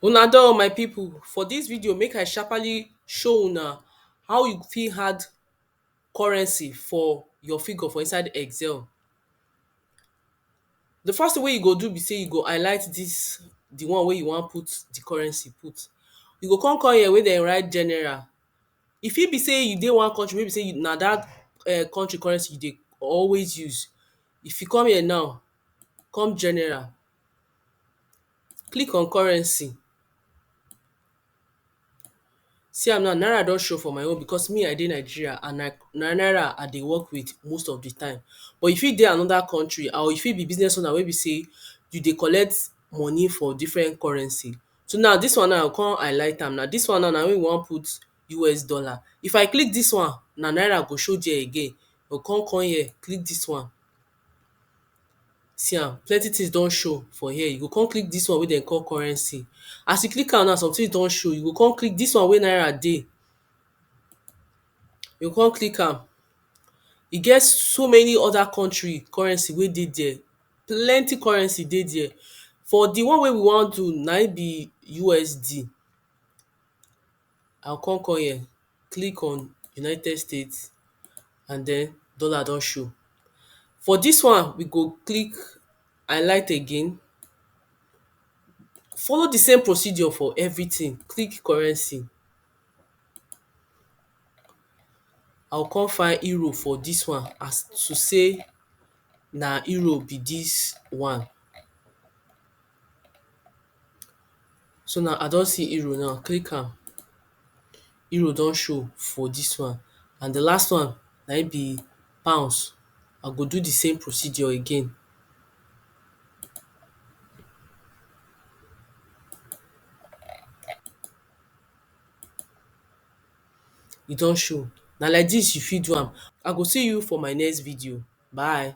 Una doh my people, for dis video make I sharpaly show una how you fit add currency for your figure for inside excel. Di first thing wey you go do be sey you go highlight dis di one wey you wan put di currency put, you go come come here wey dem write general, e fit be sey you dey one country wey be sey na dat country currency you dey always use, If you come here now, come general, click on currency, see am now naira don show for my own because me I dey Nigeria and na naira I dey work with most of di time but you fit dey anoda country or you fit be business owner wey be sey you dey collect money for different currency so now dis one now I go come highlight am now dis one now na im we wan put us dollar if I click dis one na naira go show there again I go come come here click dis one see am plenty things don show for here you go come click dis one wey dem call currency as you click am now somethings don show you go come click dis one wey naira dey you go come click am e get so many other country currency wey dey there plenty currency dey there for the one wey we wan do na im be USD I go come come here, click on United States and den dollar don show. For dis one, we go click highlight again, follow di same procedure for everytin, click currency. I go come find Europe for dis one as to sey na Europe be dis one. So now I don see euro now, click am. Euro don show for dis one. And the last one na im be pounds. I go do the same procedure again. E don show. Na like dis you fit do am. I go see you for my next video. Bye.